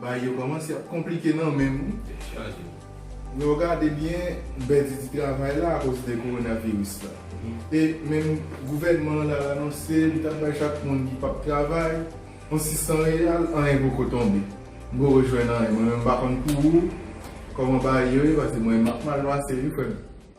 Bagay yo kòmanse ap konplike nan menm wi. Dechaje wi. Lè w gade byen m pèdi di travay la akoz de kowonaviris la. E menm gouvènman an la anonse li t ap bay chak moun ki p ap travay yon 600 reyal anyen poko tonbe. M poko jwenn anyen mwen menm m pa konn pou ou kòman bagay yo ye pase mwen m ap mal pase wi frè m.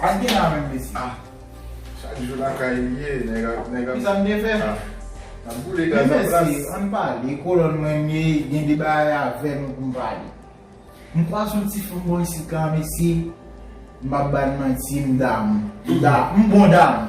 Sak gen la menm mesye. Ah chak jou lakay li ye nèg ap nèg ap. Kisa m te fè? Ah nap boule gaz anplas. Men mesye ann pale kolòn mwen m ye gen de bagay avè nou pou m pale. M kwaz yon ti fanm bò isit la mesye m pap ba n manti m damou. M bon damou.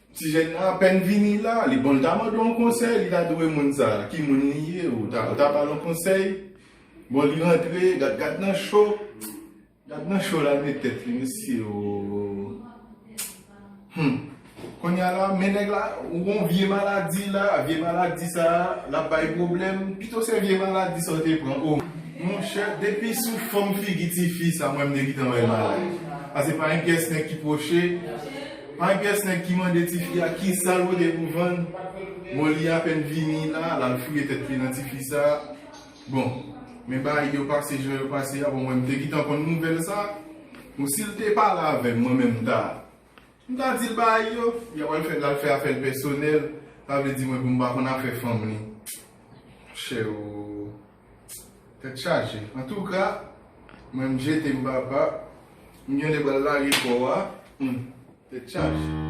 Ti jèn nan apèn vini la, li bon li ta mande w yon konsèy, li ta di w e moun sa, ki moun li ye, ou ta ou ta ba l yon konsèy, bon li rantre, gad gad nan cho, gad nan cho la met tèt li mesye oo, humm, kounya la men nèg la, ou gon vye maladi la, vye maladi sa, l ap bay pwoblèm, pito se vye maladi sa w te pran oo. Monchè, depi sou fòm figi ti fi sa mwen m te gintan wè l malad, pase pa yon pyès nèg ki pwoche, My pyès nèg ki mande tifi a kisal pote pou vann bon li apèn vini la lal fouye tèt li nan tifi sa bon men bagay yo pase jan yo pase a bon mwen mte gintan konn nouvèl sa bon sil te pale avèm mwen menm mta mta dil bagay yo li apral fè lal fè afèl pèsonèl sa vle di mwen poum pa konn afè fanm li monchè oo. Tèt chaje. Antouka, mwen m jete m papa, m gen lè pral lage kò a, humm, tèt chaje.